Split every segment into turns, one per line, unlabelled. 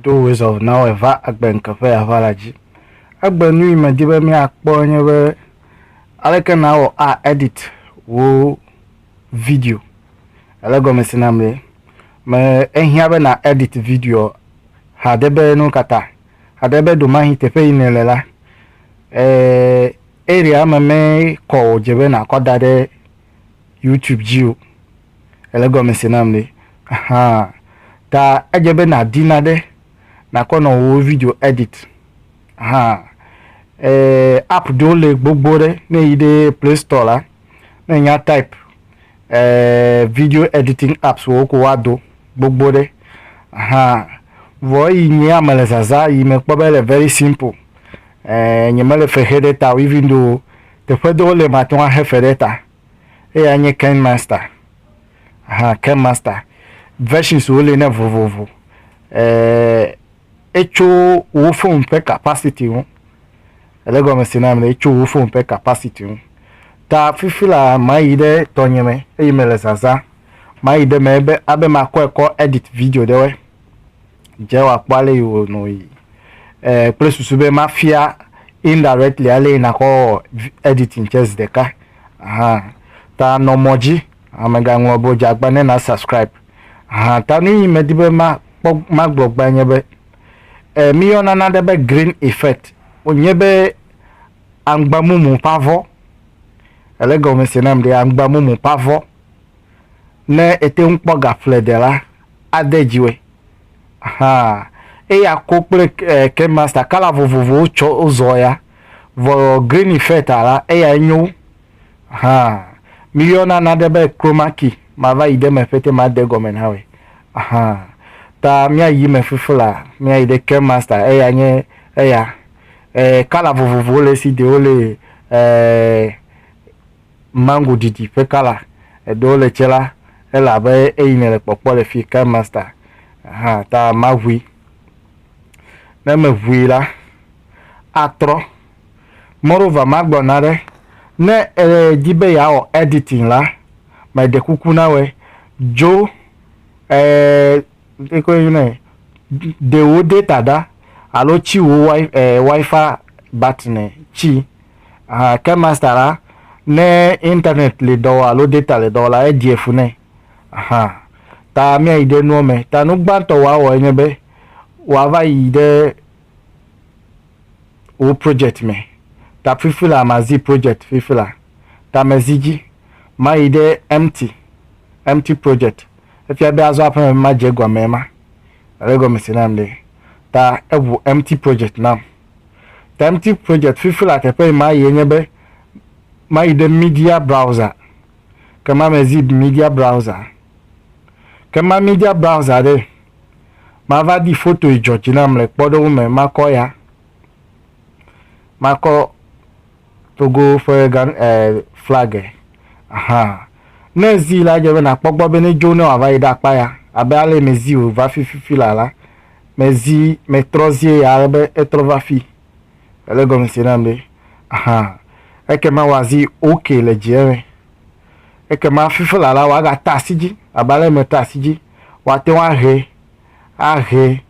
Ɖo wòezɔ
na wo eva agbe ŋke ƒe aʋa la dzi. Egbe nui medi be míakpɔ enye be aleke nàwɔ a edit wò video. Ele gɔmesi nam be me ehiã be na edit video hade be nu ka ta. Hade be ɖomahi teƒe yi nèle la, e area me me kɔ wòdze be nàkɔ da ɖe. YouTube dzi o. Ele gɔme se nam ɖe. Ahan. Ta edze be nàdi naɖe nàkɔ nɔ wò video edit. Ahan. E, app ɖewo le gbogbo ɖe. Ne èyi ɖe Play Store la, ne ènya type e, video editing apps wò ko woado gbogbo ɖe. Ahan. Vɔ eyi nyea mele zazã yi mekpɔ be ele very simple. E, nyemele fexe ɖe ta o even though Teƒe ɖewo le mate ŋu axe fe ɖe ta. Eyae nye KineMaster. Aha, KineMaster. Versionswo li ne vovovo. Eee etso wò fon ƒe capacity ŋu. Ele gɔme se na ame ɖe? Etso wò fon ƒe capacity ŋu. Ta fifi la mayi ɖe tɔnye me eye mele zazã. Mayi ɖe eme be abe makɔe kɔ edit video ɖewoe. dze wa kpɔ ale yi wò nɔ yi eh, kple susu be ma fia indirectly ale yi nakɔ editing tsɛ zi ɖeka hã ta nɔ mɔ dzi amega ŋlɔ be dze agba ne na subscribe hã ta nu yi me di be ma kpɔ ma gblɔ gba nye be eh, mi yɔ nana ɖe be green effect o nye be angba mumu pavɔ ele gɔmese nam ɖe angba mumu pavɔ ne ete ŋu kpɔ gaƒledela ade dziwɔe hã. Eya ko kple Ken Master, kala vovovowo tsɔ zɔ ya. Vɔ Greeny Feta la, eyae nyo wu hã. Míyɔna naɖe be Chroma Key, mava yi ɖe eme ƒete made gɔme na wòe hã. Ta mía yi me fifi la, mía yi ɖe Ken Master, eya nye eya. Kala vovovowo le esi, ɖewo le Mango ɖiɖi ƒe kala eɖewo le tse la, ele abe eyi nèle kpɔkpɔ le fi Kind Master hã ta maʋui. Ne meʋui la, atrɔ. Moreover, magblɔ naɖe, ne èdi be yeawɔ editing la, meɖe kuku na wòe, dzo ɛɛ ekɔe yɔna nɛ, ɖe wò data ɖa alo tsi wò wi ɛɛ wifi battery ne tsi Aa ke master la ne internet li dɔ wɔ alo data le dɔ wɔ la edie fu nɛ. Aha ta mia yi ɖe nuɔ me. Ta nu gbãtɔ wòa wɔ enye be wòa va yi ɖe wò project me. Ta fifi la ma zi project fifi la. Ta me zi dzi. Ma yi ɖe empty, empty project. Efia be azɔ aƒeme be ma dze egɔme ema. Ele egɔme se nam ɖe? Ta eʋu empty project nam. Timetive Project fifi la teƒe yi ma yie nye be mayi ɖe Media Browser. Ke ma me zip Media Browser. Ke ma Media Browser ɖe, ma va di foto yi dzɔ dzi nam le kpɔɖeŋu me. Ma kɔ ya. Ma kɔ. Togo ƒe gan e flag e aha. Ne zi la edze be nakpɔ gbɔ be ne dzo ne wòava yi ɖe akpa ya abe ale me zi wòva fi fifi la la me zi me trɔ zie ya ale be etrɔ va fi. Ele gɔme se nam be aha. Eke ma wa zi ok le dzi eme. Eke ma fifi la la wa ga ta asi dzi abe ale me ta asi dzi wa te wa he a he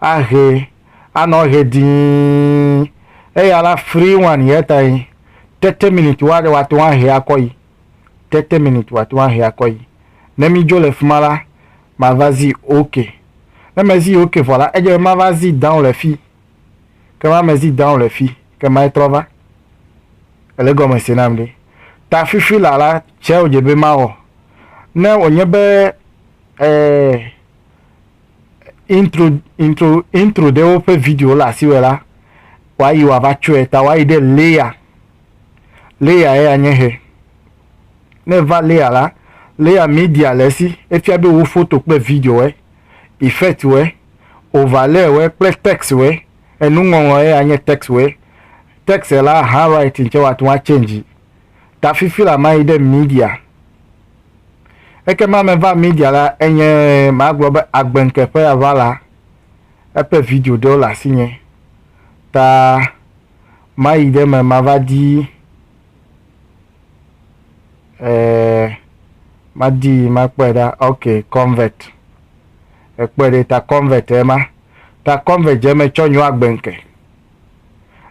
a he. anɔ ʋe dĩi, eye ala frii ŋu ani hetae tete minit wɔ aɖe wòate ŋu ahe akɔ yi. Tete minit wòate ŋu ahe akɔ yi. Ne midzo le fi ma la, mava zi ok. Ne mezi ok vɔ la, edze be mava zi down le fi. Ke ma mezi down le fi, ke mae trɔ va. Ele egɔme se nam ɖe? Ta fifi la la, tsɛ wòdze be mawɔ. Ne wònye be, ɛɛ, intro intro intro ɖewo ƒe video le asi wɔ la wòayi wòava tsɔe ta wòayi ɖe layer layer ya nye he ne va layer la layer media le esi efia be wo foto kple video wɔ effect wɔ overlay wɔ kple text wɔ enuŋɔŋlɔ ya nye text wɔ text la handwriting tsɛ wòate ŋu atsɛn dzi. ta fifi la mayi ɖe Media. Ekema meva Media la enye magblɔ be agbenkeƒe ava la eƒe video ɖewo le asinye ta mayi ɖe me mava di eh, madi makpɔe ɖa ok convert ekpɔe ɖe ta convert ema ta convert dze me tsɔ nyo agbenke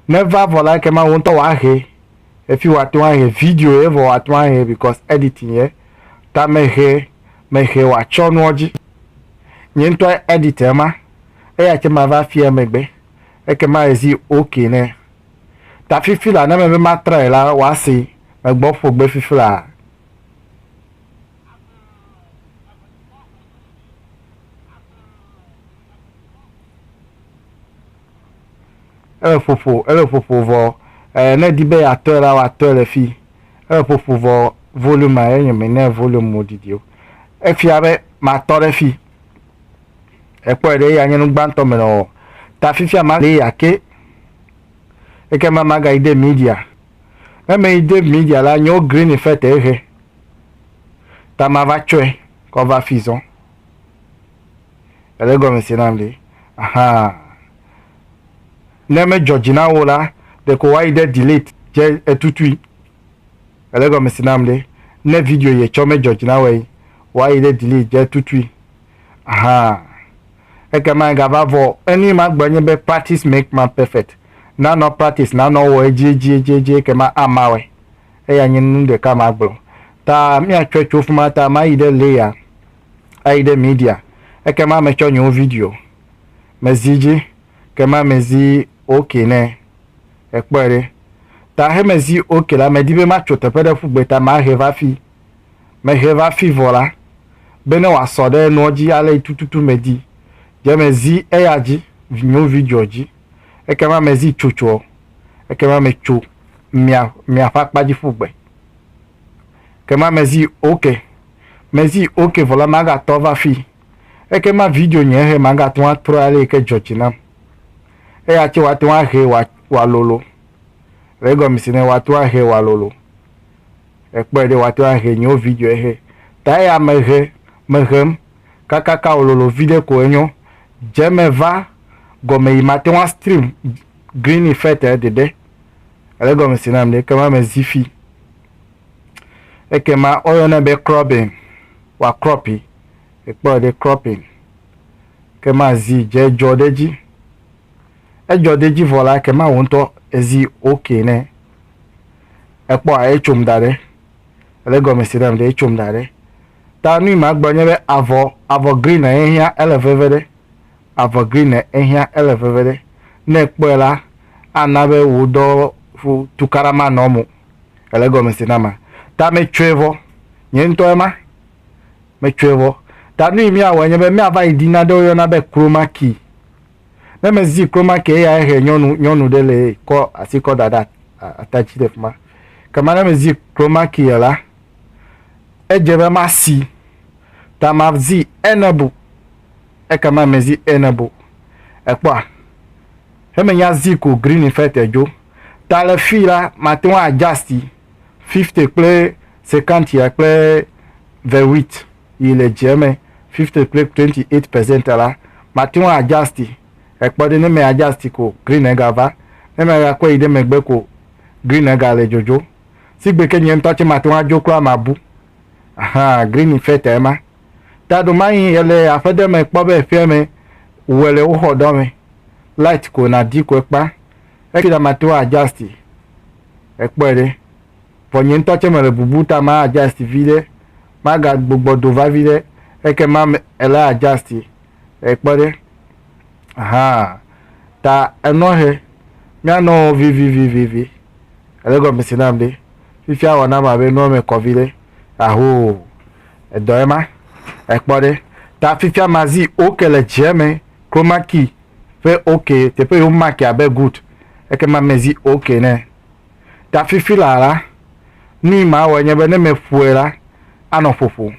Ne eva vɔ la ekema wò ŋutɔ wòahe. Efi wòate ŋu ahe video ye vɔ wòate ŋu ahe because editing ye. Ta mehe mehe wòatsyɔ nuɔ dzi. Nye ŋutɔ edit ema. Eya tsɛ mava afia emegbe. Ekema ezi ok nɛ. Ta fifi la ne eme be matrae la wòasee. Megbɔ ƒo gbe fifi laa. Ele ƒoƒo, ele ƒoƒo vɔ ɛɛ ne edi be yeatɔe la, woatɔe le fii. Ele ƒoƒo vɔ volume ma ye nye menɛ volume mo didi o. Efia be matɔ ɖe fii. Èkpɔe ɖe eya nye nu gbãtɔ me nɔwò. Ta fifia ma li ake. Ekema magayi de media. Ne meyi de media la, nyewo green fete ehe. Ta mava tsɔe kɔ va fii zɔ. Ele gɔme se nam ɖe? Ahaa. Ne medzɔ dzi na wò la, ɖeko woayi ɖe delete dze etutui. Ele gɔme se nam ɖe? Ne video yi etsɔ medzɔ dzi na wòe, woayi ɖe delete dze etutui. Ahaa. Ekema egava vɔ o. Enui ma gblɔ nye be practice make man perfect. Ne anɔ practice, ne anɔ wɔ edziedziedzi ekema ama wɔe. Eya nye nu ɖeka ma gblɔ. Ta míatsɔe tso fima ta mayi ɖe layer ayi ɖe Media, ekema metsɔ nye wo video mezi dzi kema mezi ok nɛ ekpɔe ɖe ta hemezi ok la medi be matso teƒe ɖe ƒugbe ta mahe va fi mehe va fi vɔ la bene wòasɔ ɖe enuɔ dzi ale tututu medi dze mezi eya dzi nye wo video dzi ekema mezi tsotsoɔ ekema metso mia miaƒe akpadzi ƒugbe kema mezi ok. Mezi ok vɔ la magatɔ va fi eke ma video nye he magatɔn atrɔ ale yike dzɔ dzi nam. Eya tse watɔn ahe wa wa lolo. Le egɔme si ne watɔn ahe wa lolo. Ekpɔe ɖe watɔn ahe nye wo video ehe. Ta eya me he me hem kakaka wo lolo viɖe ko enyo. Dze me va gɔme yi matɔn a stream green effect ɖeɖe. Le egɔme si nam ɖe eke ma mezi fi. Ekema woyɔnɛ be cropping, wòakrɔpi, èkpɔe ɖe, cropping. Ekema zi dze dzɔ ɖe edzi. Edzɔ ɖe edzi vɔ la, ekema wò ŋutɔ èzi ok nɛ. Èkpɔa, etsom da ɖe. Èle egɔme se nam ɖe, etsom da ɖe. Ta nu yi magblɔ nye be avɔ, avɔ green ye hiã, ele veve ɖe. Avɔ green ehiã ele veve ɖe. Ne ekpɔe la, ana be wò dɔ ƒo tukaɖa manɔ eme o. Ele egɔme se nama? Ta metsɔe vɔ. Nye ŋutɔ ema. Metsɔe vɔ. Ta nuyi míawɔe nye be míava yi ɖi nane woyɔna be chroma key. Ne mezi chroma key eyae he nyɔnu nyɔnu ɖe le ye kɔ asi kɔ da ɖe ata dzi le fi ma. Kema ne mezi chroma key la, edze be masi. Ta mazi enable. Ekema mezi ene bo. Èkpɔa? He menya zi ko Greene ƒe tedjo. Ta le fii la, mate ŋu adjasti fifte kple sekantia kple vewit yi le djia me fifte kple twenty eight percent la, mate ŋu adjasti. Ekpɔ ɖe, ne me adjasti ko Greene ega va. Ne me ga kɔe yi ɖe megbe ko Greene ega le djodjo. Sigbe ke nye ŋutɔ tse mate ŋu adjo kura mabu. Ahaa, Greene ƒe tae ma. Taɖomayi yele aƒe ɖe me kpɔ be ƒeame wue le woxɔ ɖɔ me light ko na di ko ekpa eki ɖa ma to adjusti ekpɔe ɖe vɔ nye ŋtɔ tse mele bubu ta ma adjusti viɖe ma ga gbogbɔ do va viɖe eke ma me ele adjusti ekpɔ ɖe ahaa ta enɔ he mia nɔ vivivivivi ele gɔmesi nam ɖe fifia wɔ nam abe nua me kɔ viɖe ahoo. Edɔ ye ma. Ekpɔ ɖe. Ta fifia ma zi ok le dze me chroma key ƒe ok teƒe yo mark abe good eke ma me zi ok ne. Ta fifi la la nu yi ma wɔ nye be ne me ƒoe la anɔ ƒoƒo.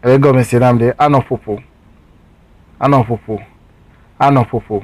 Ele gɔme se nam ɖe anɔ ƒoƒo. Anɔ ƒoƒo. Anɔ ƒoƒo.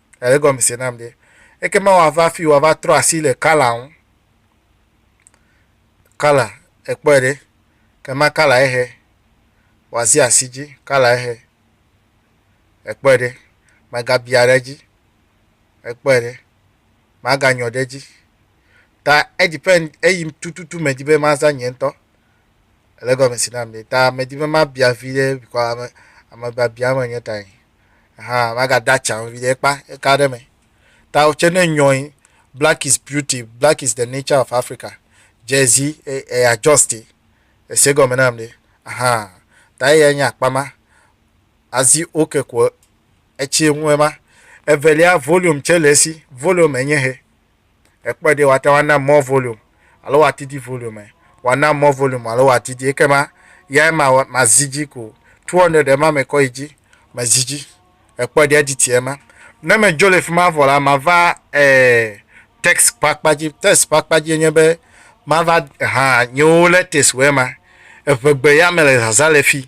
Ele egɔme se nam ɖe. Ekema wòava afi wòava trɔ asi le Kala ŋu. Kala, èkpɔe ɖe. Ekema Kala ehe. Wòazi asi dzi. Kala ehe. Èkpɔe ɖe. Mègabia ɖe edzi. Èkpɔe ɖe. Màganyɔ ɖe edzi. Ta edepend eyim tututu medi be maza nye ŋutɔ. Ele egɔme se nam ɖe. Ta medi be mabia vi ɖe bikɔ ame amebiabia menye tae. Ahan magade atsa o viɖe ekpa eka ɖe me. Ta wò tsɛ ne nyɔe black is beauty, black is the nature of Africa jersey e e adjust e ese gɔme nam ɖe ahan ta eyae nye akpa ma azi ok ko etsi ŋu ema. Evelia volume tsɛ le esi volume enye he. Èkpɔe ɖe, woate ŋu ana more volume alo woadidi volume ɛ. Woana more volume alo woadidi ekema yae ma mazi edzi ko. Two hundred ema mekɔ yi dzi, mezi edzi. Èkpɔe ɖe edidi ye ma. Ne medzo le fi ma vɔ la, mava e text ƒe akpa dzi. Text ƒe akpa dzie nye be mava ha nyewo letters wo ema. Eŋegbe ya mele zazã le fi.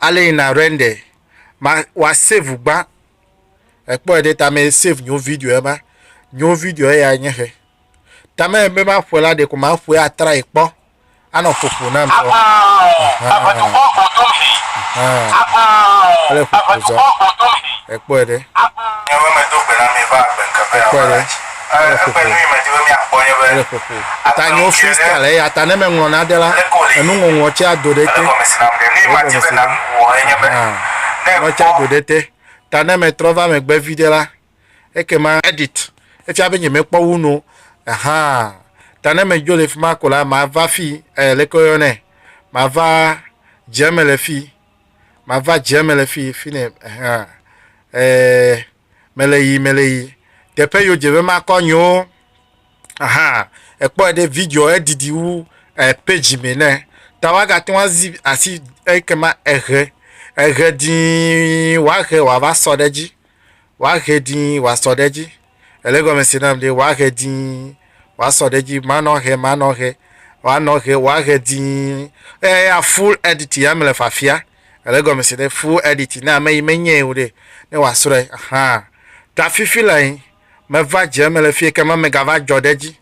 ale yi na render ma wa save gbã ekpɔ yi ɖe ta me save nyo video ya ma nyo video ya nye he ta me be ma ƒe la de ko ma ƒe atra yi kpɔ anɔ ƒoƒo na mi kpɔ ele ƒoƒo zɔ ekpɔ yi ɖe ekpɔ yi ɖe Ele ƒoƒo. Ele ƒoƒo. Ta nye wo freestyle eya ta ne meŋlɔ nane la, enuŋɔŋlɔ tsɛ ado ɖe ete. Egɔmesina. Ahan. Nua tsɛ ado ɖe ete. Ta ne metrɔ va megbe viɖe la, ekema edit efia be nyemekpɔ wu nu o. Ahan. Ta ne medzo le fi ma ko la, mava fii ɛɛ leke woyɔnɛ? Mava dzeme le fii. Mava dzeme le fii, fi yi ne, ahan. Ɛɛ. meleyi meleyi teƒe yo dze be makɔ nyewo aha ekpɔe ɖe video edidi wu e page me ne ta waga te ŋu azi asi eke ma ehe ehe dii wahe wava sɔ ɖe dzi wahe dii wasɔ ɖe dzi ele gɔme se nam ɖe wahe dii wasɔ ɖe dzi manɔ he manɔ he wanɔ he wahe dii eya full edit ya mele fafia Ele gɔmese ɖe full edit ne ame yi menyae o ɖe ne wòasrɔe ahaa. Ɖafifi lae meva dze eme le fiye ke ma megava dzɔ ɖe edzi.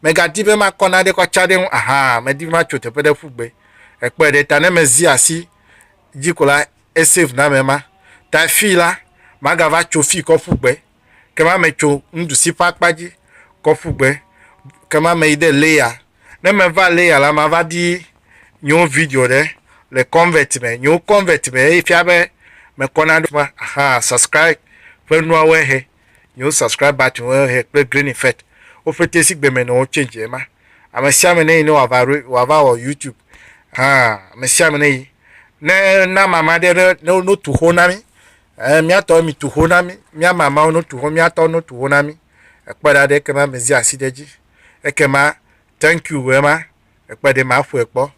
Megadi be makɔ naɖe kɔ tsa ɖe eŋu ahaa medi be matso teƒe ɖe ƒu gbe. Èkpɔe ɖe ta ne mezi asi dzi ko la esave name ema. Tae fii la magava tso fii kɔ ƒu gbe. ke ma metso nuɖusi ƒe akpa dzi kɔ ƒu gbe, ke ma meyi ɖe Leya. Ne meva Leya la, mava ɖi nyewo video ɖe le Convert me. Nyewo Convert me eye fia be mekɔ na ɖoƒe axa subscribe ƒe nuawoe he. Nyewo subscribe button woe he kple green effect wo ƒete si gbeme nɔ wo change ye ma. Ame sia ame ne yi ne wòava ɖo wòava wɔ YouTube hã, ame sia ame ne yi ne na mama ɖe ne ne wotu xo na mí. Ɛɛ, míatɔ mi tu ho na mí, mía mamawo no tu ho, míatɔ no tu ho na mí. Ekpe ɖa ɖe ekema me zia asi ɖe dzi. Ekema thank you ɣe ma, ekpe ɖe ma ƒoe kpɔ.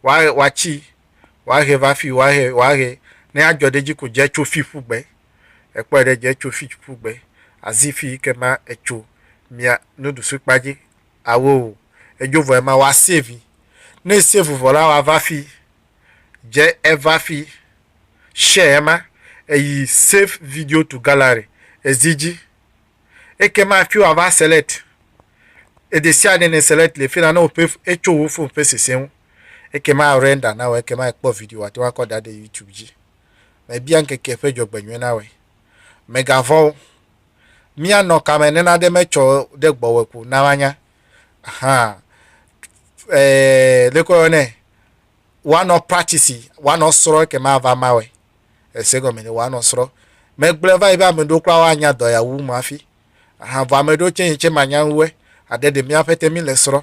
Wa, wa tsi, wa ɣe va fi, wa ɣe, wa ɣe, ne ya dzɔ ɖe dzi ko dze tso fi ƒu gbe. Ekpɔe ɖe dzi etso Fidji ƒu gbe azi fi yike ma etso mia nuɖusu kpa dzi awo o. Edzo vɔ ema wa save. Ne esave vɔ la wa va fi dze eva fi share ema eyi save video to gallery ezi dzi. Eke ma fi wa va select edesiade ne select le fina ne ope etso wo phone ƒe sese ŋu. Eke ma render na wo eke ma ekpɔ video wa te wa kɔ dade youtube dzi. Mebia ŋkeke ƒe dzɔgbenyui na wòe. Mègavɔ̃ o. Míanɔ kame nenade metsɔ ɖe gbɔwòe ko na woanya. Hã, ɛɛ, ɖeke woyɔnɛ, woanɔ praktisi, woanɔ srɔ̃ eke mava mawɔe. Ese gɔme ɖe woanɔ srɔ̃. Megblɔe va yi be ame ɖewo kura woanya dɔ ya wu mɔ hafi. Hã, vɔ ame ɖewo tsɛ yi tsɛ manya wu ɛ. Aɖe ɖe mía ƒete mí le srɔ̃.